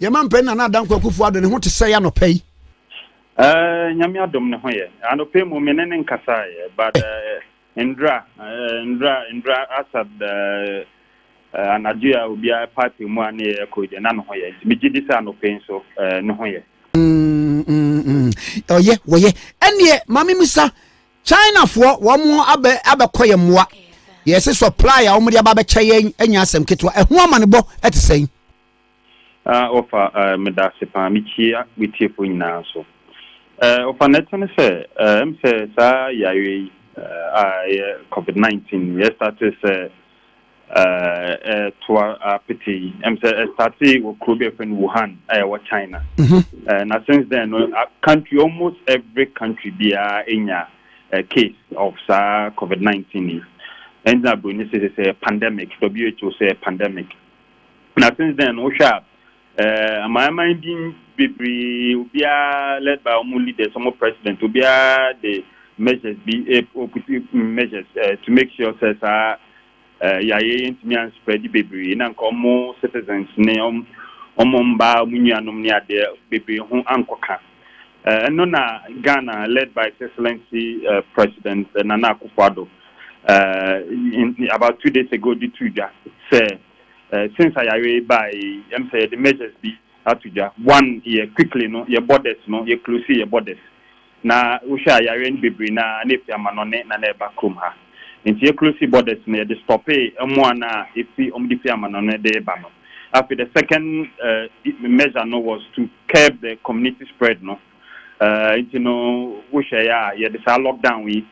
Yɛn mampanin Nana Adanko Akufo Addo, ne ho te sɛn anɔpa yi? Eh, Nyame adom ne ho yɛ. Anɔpa yi mu me ne ne nkasaeɛ, but eh, Ndra, eh, Ndra, Ndra Asad eh, eh, anadwo yi a obiara pipe mu a ne yɛyɛ kɔ yi deɛ na ne ho yɛ. Nti megye di sɛ anɔpa yi nso eh, ne ho yɛ. Mm, mm, mm. Ɔyɛ, wɔyɛ. Ɛneɛ, ma me misa, Chinafoɔ, wɔn abɛ, abɛkɔ yɛ mmoa. Yɛse supply a wɔn de aba abɛkyɛ yɛn anya asɛm ketewa. Ɛho amanebɔ ɛte sɛn? Ah ɔfa eh medase paa mekyia metiefo nyinaa nso eh ɔfa na ɛte ne sɛ eh ɛm sɛ saa yareɛ yi eh a ɛyɛ covid 19 yɛ starte sɛ eh ɛtoa apete yi ɛm sɛ ɛstarte wɔ kuro bi ɛfɛ no Wuhan a ɛwɔ China mhm. eh na since then no country almost every country biara enya eh, case of saa covid 19 yi ɛnna broni sɛ sɛ pandemic who sɛ pandemic Na since then no wohwɛ a eh, amanaman din bebree obiara led by wɔn leaders wɔn president obiara de measures bi ɔputi measures eh, to make sure sɛ saa eh, yareɛ yɛ ntumi anspread bebree na nka wɔn citizens ne wɔn wɔn mmaa wɔn nuanom ne adeɛ bebree ho ankɔka. Ɛno na Ghana led by His Excellency President Nana Akufo-Addo about two days ago de too dwa sɛ since ayare yi bae yi ɛm sɛ yɛde measures bi ato dwa. One yɛ quickly no yɛ borders no yɛ close yɛ borders na wohwɛ a yareɛ no bebree no a na ɛfiri amanɔne na na ɛba kurom ha nti yɛ close borders no yɛde stoppee mmoa no a ɛfi wɔde fi amanɔne de ba no. Afei the second measure no was to curb the community spread no nti no wohwɛ yɛ a yɛde saa lockdown yi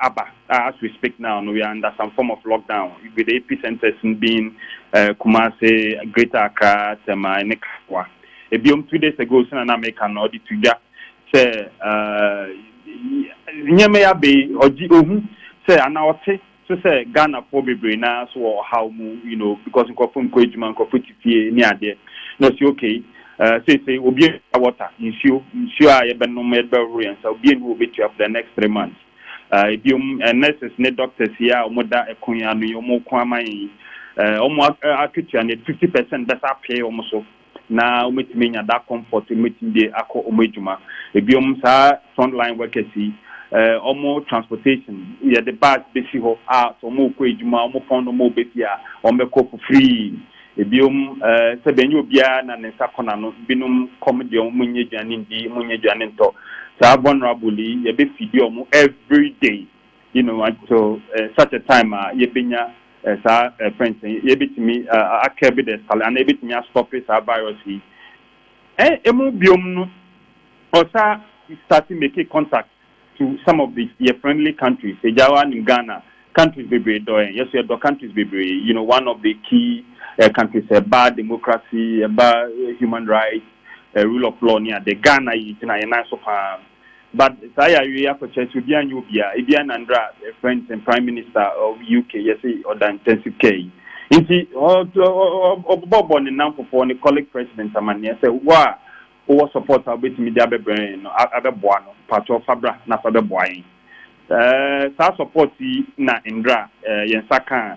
aba as we speak now no we are under some form of lockdown with the epicenters being uh, Kumasi, Greater Accra, Tema, ne Kawa. Ebiom two days ago sena na meka no ɔde to dwa sɛ nneɛma yi abɛyi ɔgye ohu sɛ ana ɔte So sɛ Ghanafoɔ bebree no ara so wɔ ɔhaw mu you know because nkorɔfo nkɔ adwuma, nkorɔfo te fie ne adeɛ na ɔsi ok eh, seesei obia ntua water, nsuo, nsuo a yɛbɛnom, yɛde bɛhohoro yɛn nsa obia nni hɔ a ɔbɛtua for the next three months. Eh, ebiom eh, nurses ne doctors yi a wɔda ɛko yi ano yi wɔko ama yɛn yi eh, wɔn a- eh, akatua no yɛde fifty percent bɛsa apee wɔn so. na wɔatumi anya that comfort sɛ wɔbɛtumi de akɔ wɔn adwuma. Ebinom saa front line workers yi, wɔn transportation, yɛde bus bɛsi hɔ a sɛ wɔrekɔ adwuma, wɔpɔn no wɔn bɛ fie a, wɔbɛkɔ for free. Ebinom sɛdeɛ ɛnyɛ obiara na ne nsa kɔ n'ano, ebinom kɔm deɛ wɔn nyɛ aduane nndi, wɔn nyɛ aduane ntɔ. Saa vulnerable yi, yɛbɛ feedi wɔn everyday, you know, until uh, such a time a uh, yɛbɛnya uh, saa uh, friends yi yɛbɛtumi uh, akɛbe the scal anaa yɛbɛtumi astɔpe saa virus yi eh, ɛmu biom no ɔsa start making contact to some of the your friendly countries ɛgya wa nim ghana countries bebree dɔ yɛn yɛso yɛdɔ countries bebree you know one of the key uh, countries ɛba uh, democracy ɛba uh, human rights uh, rule of law ne ade ghana yi gyina yɛn nan so paa But saa yareɛ yi akɔkyɛrɛ sɛ obiaa nyɛ obiaa, ebi a na ndra for anything prime minister of UK yɛse ɔda intensive care yi nti ɔbɔbɔ ne namfofoɔ ne colleague president amaneɛ sɛ wo a wowɔ support a wobɛtumi de abɛbrɛ yɛn no abɛboa no mpakyɛw fa bra na fa bɛboa yɛn saa support yi na ndra yɛn nsa kaa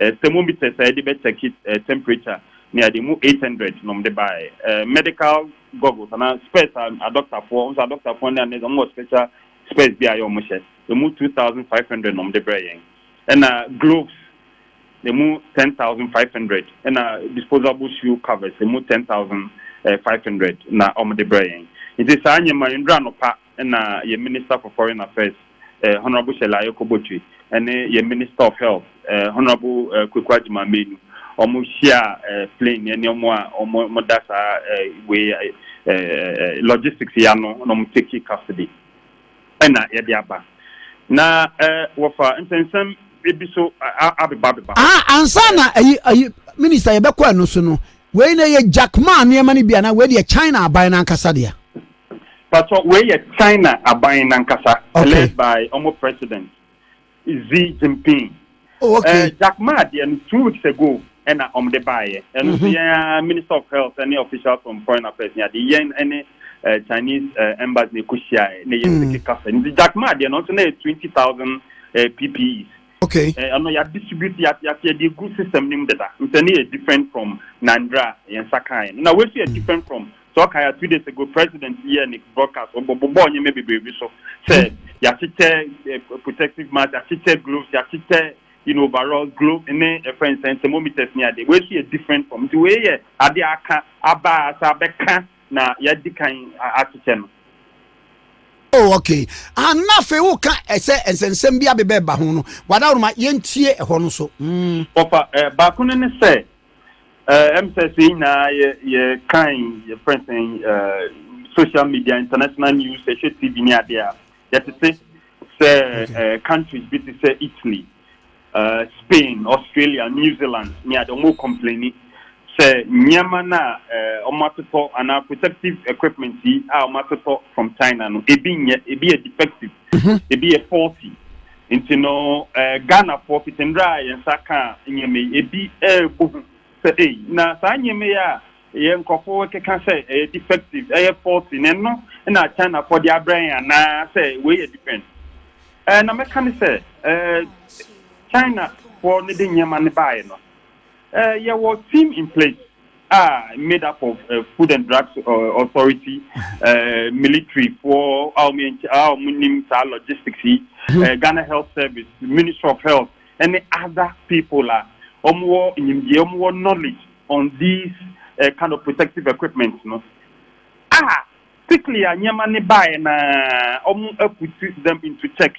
eh, thermometers a yɛde bɛ check it eh, temperature ne ade mu 800 nom de bae eh, medical goggles ana spurs a adɔktafoɔ nso adɔktafoɔ ne anɛ wɔn wɔ special spurs bi a yɛ wɔn hyɛ emu 2500 nom de brɛ yɛn ɛna gloves emu 10500 ɛna disposable shoe covers emu 10500 eh, na wɔn de brɛ yɛn nti saa nyɛma nnura no pa na yɛn Minister for Foreign Affairs, eh, Honourable Shirley Ayoko Botwe, ne yɛn Minister of Health, eh, Honourable eh, Kweku Agyemang Menu, wɔn hyia eh, plane ne nneɛma a wɔn da saa eh, wei eh, eh, logistics yi ano na wɔn take custody ɛna yɛde aba na eh, wɔfa nsɛnsɛm ebi so abeba abeba. Ah, ansa na ayi ayi minister yɛbɛkɔ ɛno so no wei na yɛ Jack Ma nneɛma no bi anaa wei deɛ China aban no ankasa deɛ. Patsɔ wei yɛ China aban nankasa okay. led by ɔmo president Xi Jinping. Oh, okay. Uh, Jack Ma deɛ no two weeks ago ɛna ɔmo de baayɛ. Ɛno nso mm-hmm. yɛn minister of health ɛne officials from foreign affairs ni adeɛ yɛn ɛne uh, Chinese uh, embassy na ɛkɔ hyia ɛ na yɛn sike kasa. Nti Jack Ma deɛ no nso na yɛ twenty thousand uh, PPEs. Okay. Ɛno uh, yɛ distribute yɛ yɛ yɛ de gu system nim deda. Nti ɛne yɛ different from Nandra yɛn nsa kan. Na wei nso yɛ mm. different from Sɛ ɔka ya two days ago president yɛɛ ne broadcast ɔbɔbɔɔ nneɛma bebree bi so sɛ yɛakyekyɛ eh, protective mask yɛakyekyɛ gloves yɛakyekyɛ you know overall globe ne ɛfrɛ nsɛn thermometers ne ade wei so yɛ different from nti wei yɛ ade aka aba asa abɛka na yɛadi kan akyekyɛ no oh okay ah na afei wo ka ɛsɛ eh, nsɛnsɛm bi abebɛ ba ho no wadaworoma yɛntie ɛhɔ no so mm. wɔfa eh, baako no ne sɛ Eh, ɛm sɛ sɛ nyinaa yɛ yɛ kan yɛ fɛn sɛn eh, social media international news ɛhwɛ tv ne adeɛ a yɛtete sɛ eh, countries bi te sɛ italy eh, spain australia new zealand ne adeɛ ɔmo complaini sɛ nneɛma no a eh, ɔmo atotɔ anaa protective equipment yi a ɔmo atotɔ from china no ebi nyɛ ebi yɛ defective mhm. ebi yɛ faulty Ntsi no, Ghanafoɔ, fitsi mber a hɛn nsa kãa ndzɛmba yi, bi bɔ hu sɛ, ei, na saa ndzɛmba yi a hɛn nkorɔfo rekekã sɛ ɛyɛ defective, ɛyɛ faulty, na ɛno na Chinafoɔ dze abrɛ hɛn anaa sɛ wei yɛ different? Na mɛkã no sɛ, Chinafoɔ no dze ndzɛmba no baeɛ no, Eh, yɛwɔ team in place a made up of uh, food and drugs uh, authority uh, military foɔ a wɔn nim saa logistics yi hmm. eh, ghana health service ministry of health ɛne other people a wɔn wɔ nyimdeɛ wɔn wɔ knowledge on these uh, kind of protective equipment no a quickly a nneɛma ne baeɛ na wɔn put them into checks.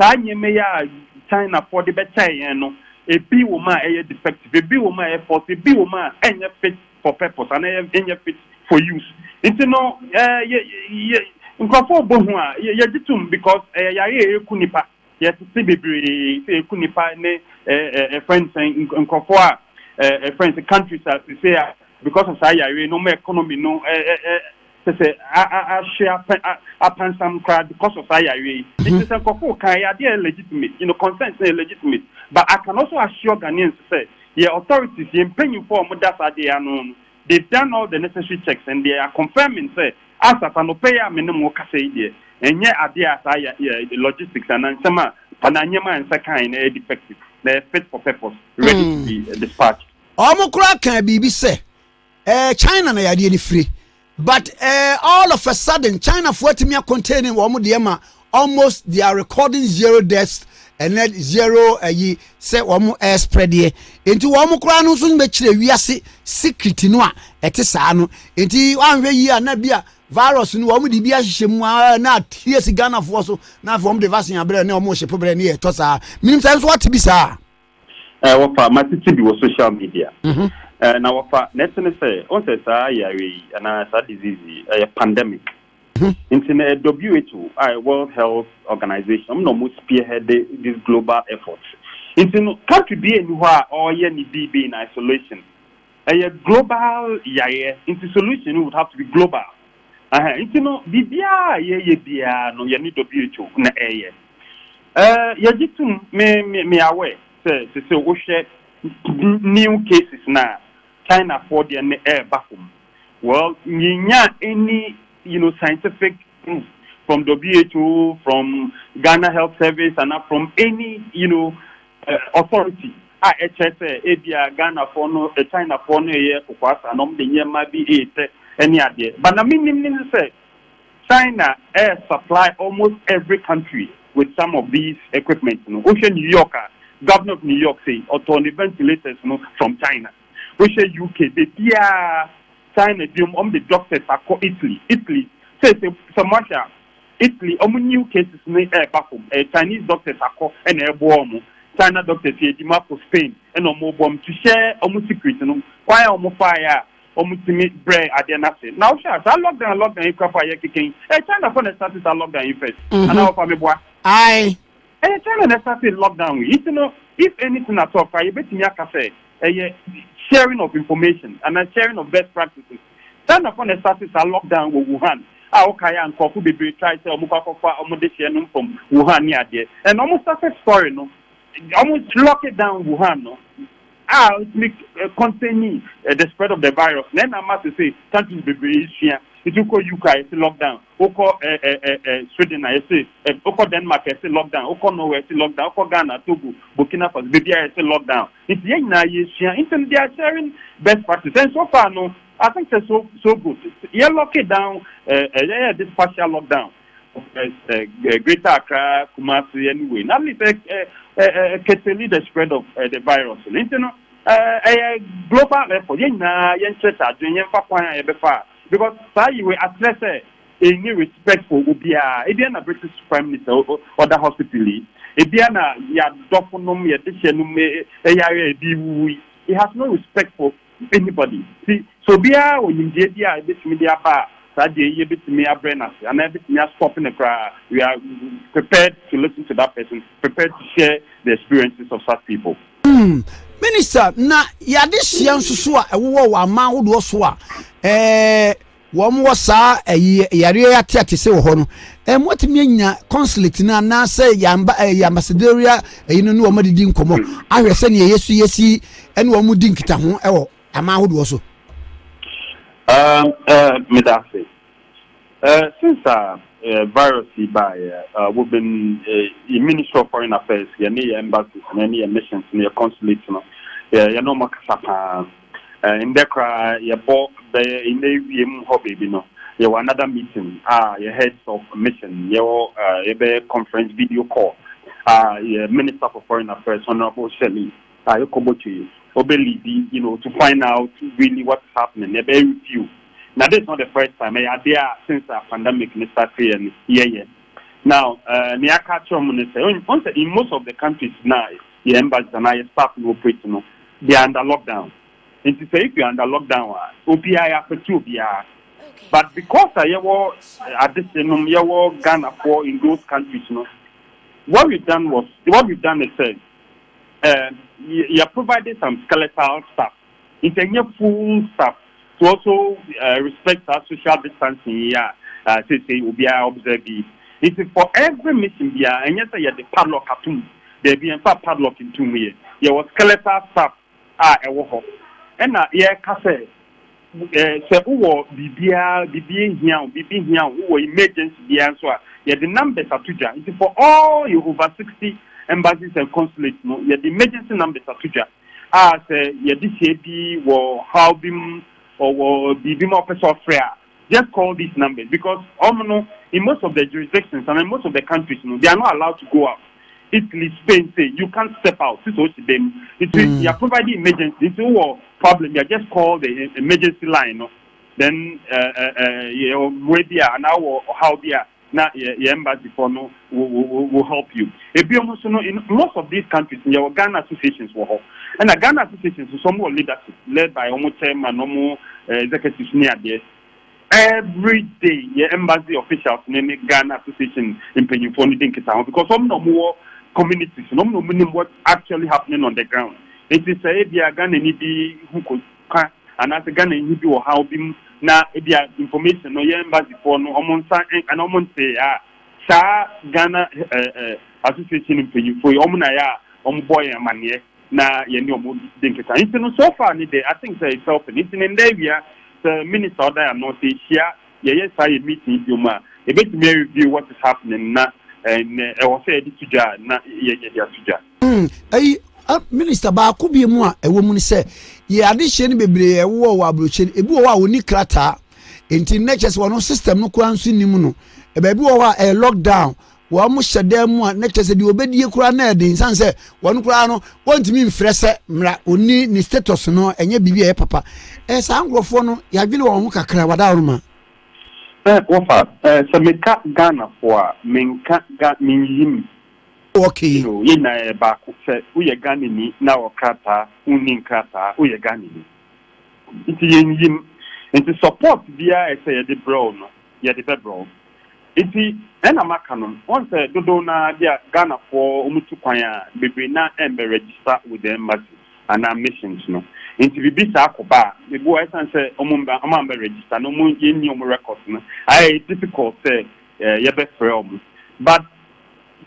Saa nyɛmmeya a Chinafɔɔ de bɛkyɛɛ yɛn no, ebi wɔ mu a ɛyɛ defective, ebi wɔ mu a ɛyɛ faulty, ebi wɔ mu a ɛnyɛ fit for purpose anaa ɛyɛ ɛnyɛ fit for use. Nti no ɛɛ yɛ yɛ nkorɔfɔɔ bɔ hu a yɛ yɛgye tum because ɛyɛ yare a ɛku nipa. Yɛtete bebree sɛ ɛku nipa ne ɛɛ ɛɛ yɛfrɛ no sɛn nk nkorɔfɔɔ a ɛɛ yɛfrɛ no sɛ countries a sesei a because of saa yare no wɔn economy no ɛɛ ɛɛ Te sɛ ahwe apansam koraa because of saa yareɛ yi. Nti no sɛ nkorɔfoɔ ka ɛyɛ adeɛ a ɛyɛ legitimate, you know, consent no yɛ legitimate but I can also assure Ghanaians sɛ yɛ authorities, yɛ mpanyinfoɔ a wɔda saa adeɛ yi ano no they've done all the necessary checks and they are confirming sɛ as at anɔpa yi a me ne mo rekasa yi deɛ ɛnyɛ adeɛ a saa ya ya logistics anaa nsɛm a anaa nneɛma a nsa kan no ɛyɛ defective na ɛyɛ fit for purpose ready to be dispatched. Wɔn koraa kaa biribi sɛ eh, china na yadeɛ no fire but eh, all of a sudden china foɔ atumi acontain wɔn deɛ ma almost they are recording zero deaths ɛnɛ zero ɛyi eh, sɛ wɔn ɛspreadeɛ eh, nti wɔn koraa no nso bɛkyerɛ wiase secret no a ɛte saa no nti wɔanhwɛ yie a na bi a virus no wɔn de bi ahyehyɛ mu aa ah, na atie si ghanafoɔ so na afei wɔn de vaccine abrɛ ne wɔn hyɛ pobrɛ ne yɛ tɔ saa minim sɛ nso wɔte bi saa. Eh, wɔfa matete bi wɔ social media. Mhm. Eh, na wɔfa na ɛte ne sɛ ɔn sɛ saa yare yi anaa saa disease yi ɛyɛ pandemic. Mhm. Nti na eh, WHO a eh, World Health Organization ɔmo na ɔmo spearhead this global effort. Nti no country bi ani hɔ a ɔyɛ ne biribi na isolation. Ɛyɛ global yareɛ nti solution no would have to be global. Aha, nti no biribiara a yɛyɛ biara no yɛne WHO na ɛyɛ. Eh, yɛgye tom, me, me, me aware sɛ sese wohwɛ new cases no a, Chinafoɔ deɛ no ɛreba fam. Well, yɛnyaa any, you know, scientific proof from WHO, from Ghana Health Service, anaa from any, you know, eh, authority a ɛkyerɛ sɛ ebia Ghanafoɔ no, eh, Chinafoɔ no ɛyɛ kokoasa na wɔde nneɛma bi ɛretɛ ɛne adeɛ. But na menim ne sɛ China ɛyɛ supply almost every country with some of these equipments no, wohwɛ New York a Governor of New York sei ɔtɔɔ ne ventilators no from China, wohwɛ UK baabiara China biom wɔn de doctors akɔ Italy, Italy seesei sɛ moahwɛ a Italy wɔn new cases no ɛɛba fam ɛyɛ Chinese doctors akɔ ɛna ɛɛboa wɔn, China doctors yɛ adwuma kɔ Spain ɛna wɔn rebɔ wɔn to share wɔn secret no kwan a wɔn faeɛ a wɔtumi brɛɛ adeɛ no ase. Na wohwɛ a, saa lockdown lockdown yi kurafo a yɛkeka yi, ɛyɛ China fo na ɛsate saa lockdown yi first, anaa wɔfa me boa? Ae. Ɛyɛ China na ɛsate lockdown yi, nti no, if anything at all koraa, yɛbɛtumi aka sɛ ɛyɛ sharing of information anaa sharing of best practices. China fo na ɛsate saa lockdown wɔ Wuhan a wokae a nkurɔfo bebree try sɛ wɔkɔ akɔfa wɔn dehyeɛ no mfam Wuhan ne adeɛ, and wɔn success story no, wɔn lock down Wuhan no, a otumi kɔntɛni the spread of the virus na ɛna ama sese countries bebree esua nti wokɔ UK a yɛsi lockdown wokɔ Sweden a yɛsi wokɔ Denmark a yɛsi lockdown wokɔ Norway a yɛsi lockdown wokɔ Ghana Togo Burkina Faso beebi a yɛsi lockdown nti yɛn nyinaa yɛsua nti no they are sharing best practice and so far no I think sɛ so so good yɛ lock it down yɛyɛ this partial lockdown. Greater Accra, Kumasi ɛne wei na mi sɛ keteli the spread of the virus no nti no ɛyɛ global effort yɛn nyinaa yɛn nkyerɛkyɛ adwene yɛn fa kwan a yɛbɛfa because saa yi wei akyerɛ sɛ ɛni respect for obiara ebi na British Prime Minister ɔda hospital yi ebi na yɛadɔfo nom yɛde hyɛ nom ɛyare a ebi wuwu yi he has no respect for Anybody, nti sɛ obiara wɔ nimdeɛ bi a ebetumi de aba a, saa adeɛ yi yɛbetumi abrɛ no ase anaa yɛbetumi a stop no koraa, we are prepared to listen to that person, prepared to share the experiences of such people. Umm Minister, na yɛadesua nso so a ɛwowɔ wɔ aman ahodoɔ so a, eh, wɔn wɔ saa ɛyi yareɛ yi ate ate sɛ wɔ hɔ no ɛmu atumi anya consulate no anaasɛ yamba ɛyɛ ambassadoria ɛyi no ne wɔn adidi nkɔmɔ ahwɛ sɛ nea yɛsi yɛsi ɛne wɔn di nkitaho ɛwɔ aman ahodoɔ so. Um, uh, medase. Uh, since uh, uh, virus yi baeɛ, uh, we've been uh, in Ministry of Foreign Affairs, yɛne yɛ embassies, yɛne yɛ missions, yɛ consulates no, yɛne wɔn kasa paa. Ndɛ koraa yɛbɔ bɛyɛ ndɛ ewiem hɔ beebi no yɛwɔ another meeting a yɛ heads of mission yɛwɔ yɛbɛyɛ conference video call a yɛ minister for foreign affairs honourable Shirley Ayokor Botchwey ɔbɛ leadi you know to find out really what is happening yɛbɛyɛ review na this is not the first time ɛyɛ adeɛ a since a pandemic no start yɛ no yɛyɛ now ne yɛaka akyerɛ ɔmo ne sɛ ɔn sɛ in most of the countries na yɛ embassies anaa yɛ staff no operate no They are under lockdown nti sɛ if you are under lockdown a obiara yɛafɛte obiara but because a yɛwɔ adehye nom yɛwɔ Ghanafoɔ in those countries no what we've done was what we've done is sɛ eh, yɛ provided some skeletal stuff nti ɛnyɛ full stuff. So wɔso respect saa social distancing yi a seesei obiara observe yi? Nti for every mission biara, ɛnyɛ sɛ yɛde padlock ato mu. Daabi, yɛmfaa padlock ntoo mu yɛ. Yɛwɔ skeletal staff a ɛwɔ hɔ. Ɛna yɛka sɛ sɛ wowɔ biribiara, biribi hia wo, biribi hia wo, wowɔ emergency biara nso a, yɛde numbers ato dwa. Nti for all yɛ over 60 embassies and consulates no, yɛde emergency numbers ato dwa. a sɛ yɛde hyɛ bi wɔ haw bi mu ɔwɔ biribi ma ɔpɛ sɛ ɔfrɛ a just call these numbers because ɔmo no in most of the jurisdictions and in most of the countries no they are not allowed to go out Italy Spain say you can't step out sisi osi dan mu nti mm. yɛ provide emergency nti wɔ problem yɛ just call the emergency line no then uh, uh, uh, yɛ mmoa bi a anaa wɔ ɔhaw bi a na yɛ yɛ embassy foɔ no wo wo wo wo help you ebiom nso no in most of these countries no yɛwɔ Ghana associations wɔ hɔ ɛna Ghana associations nso ɔmo wɔ leadership led by ɔmo chairman ɔmo eh, executives ne adeɛ every day yɛ embassy officials ne ne Ghana association mpanyinfoɔ no di nkita ho because ɔmo na ɔmo wɔ communities no ɔmo na ɔmo nim what actually happening on the ground nti sɛ ebia Ghana ni bi ho ko ka anaasɛ Ghana nyi bi wɔ haw bi mu na ebia information no yɛn embassy foɔ no wɔn nsa ɛnka na wɔn ntee a, saa Ghana association mpanyinfoɔ yi wɔn na yɛ a wɔn bɔ yɛn amaneɛ na yɛn ne wɔn di nkita. Nti no so far ne deɛ I think sɛ it's helping. Nti ne nda awia sɛ minister ɔda yɛn ano sɛ yɛhyia yɛyɛ saa yɛn meeting yi biom a, yɛbɛtumi a review what is happening na nea ɛwɔ sɛ yɛde to dwa a na yɛde ato dwa. Hmm, ayi, a, minista baako bi mu a ɛwɔ mu ne sɛ, yɛ adehyeɛ no bebree a ɛwowɔ wɔ aburokyire no, ebi wɔ hɔ a wɔni krataa, nti nnɛ kyɛ sɛ wɔn system no koraa nso nim no, baabi wɔ hɔ a ɛyɛ lockdown, wɔn hyɛ dan mu a na kyɛ sɛ deɛ wɔbɛdie koraa na ɛden sane sɛ wɔn koraa no wɔntumi mfrɛ sɛ mmara ɔni ne status no ɛnyɛ biribi a ɛyɛ papa ɛyɛ eh, saa nkurɔfoɔ no yɛadwene wɔn ho kakra wadaworoma sɛ wɔfa eh, sɛ meka ghanafoɔ a menka ga menyim Okay. You know, yɛn nyinaa yɛ baako. Sɛ woyɛ Ghanani na wɔ krataa, wonni nkrataa, woyɛ Ghanani. Nti yɛnnyim. Nti support biara a ɛsɛ yɛde brɛ wo no, yɛde bɛbrɛ wo. Nti ɛna maka no, woahu sɛ dodow no ara bi a Ghanafoɔ wɔtu kwan a, bebree no ara ɛmmɛ register with the embassy anaa missions no. Nti biribi saa kɔba a, ebu a ɛsiane sɛ wɔmmɛ, wɔammɛ register na wɔn, yɛnni wɔn records no, ayɛ difficult sɛ yɛbɛfrɛ wɔn. But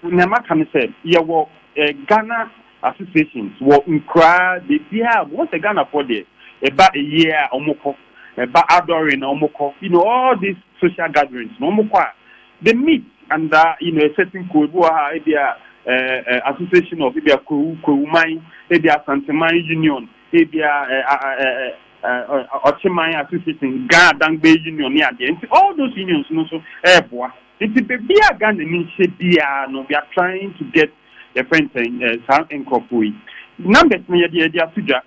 Nea maka ne sɛ yɛwɔ Ghana associations wɔ nkuraa bebia a wɔn sɛ Ghanafoɔ deɛ ɛba ayie a wɔn kɔ, ɛba adɔre na wɔn kɔ, you know all these social gatherings no wɔn kɔ a they meet under you know a certain kuo ebi wɔ ha a ebia ɛɛ association of ebia Kwewu Kwewuman ebia Asanteman union ebia ɛɛ ɛɛ Ɔkyeman association Ghana Dangbe union ne adeɛ nti all those unions no nso ɛɛboa. Nti baabi a Ghanani hyɛ biara no we are trying to get yɛfrɛ no sɛn eh, saa nkorɔfoɔ yi. Numbers no yɛde yɛde ato dwa.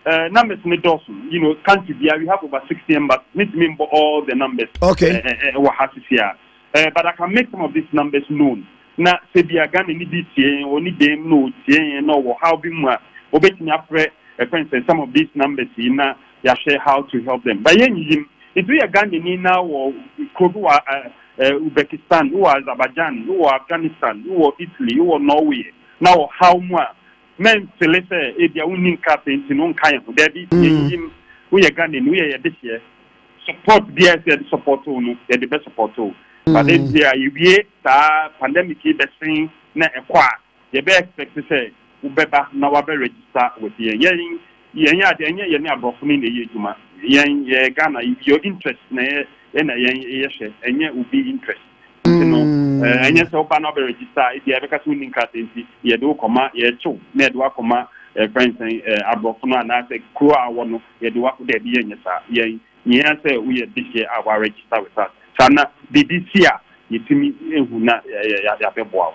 Eh, numbers no dɔɔso. You know, country biara we have over 60 embassies. Mentumi mbɔ all the numbers Okay. eh, eh, eh, wɔ ha sisi a. Eh, but I can make some of these numbers known. Na sɛ bia Ghanani bi tie yɛn, ɔni dɛm na ɔtie yɛn na ɔwɔ haw bi mu a, ɔbɛtumi afrɛ yɛfrɛ no sɛn some of these numbers yi na yɛahyɛ how to help them but yɛnyiyim nti woyɛ Ghanani na wɔ kuro bi wɔ Uzbekistan wowɔ Azerbaijan wowɔ Afghanistan wowɔ Italy wowɔ Norway na wɔ haw mu a mɛmfele sɛ ebia wonni nkrasɛ nti no nka yɛn ho daabi yɛnyiyim woyɛ Ghanani woyɛ yɛ dehyeɛ support biara sɛ yɛde support wo no yɛde bɛ support wo but ebia yɛwie saa pandemic yi bɛsen na ɛkɔ a Yɛbɛ expect sɛ wobɛba na wabɛ register with yɛn. Yɛn yɛnyɛ ade, ɛnyɛ yɛne aborɔfo no na ɛyɛ adwuma. Yɛn yɛyɛ Ghana, your interest na yɛ ɛna yɛn yɛhwɛ, ɛnyɛ obi interest. Nti no ɛnyɛ sɛ woba na wabɛ register a, ebia yɛbɛka sɛ wonni nkrataa nti yɛde wo kɔma, yɛrekye wo na yɛde wo akɔma ɛfrɛ no sɛn aborɔfo no anaasɛ kuro a wowɔ no yɛde wo akɔ, daabi yɛnyɛ saa. Yɛn yɛhia sɛ woyɛ this year a wa register with us. Saa na biribi si a yɛtumi hu na yɛabɛboa wo.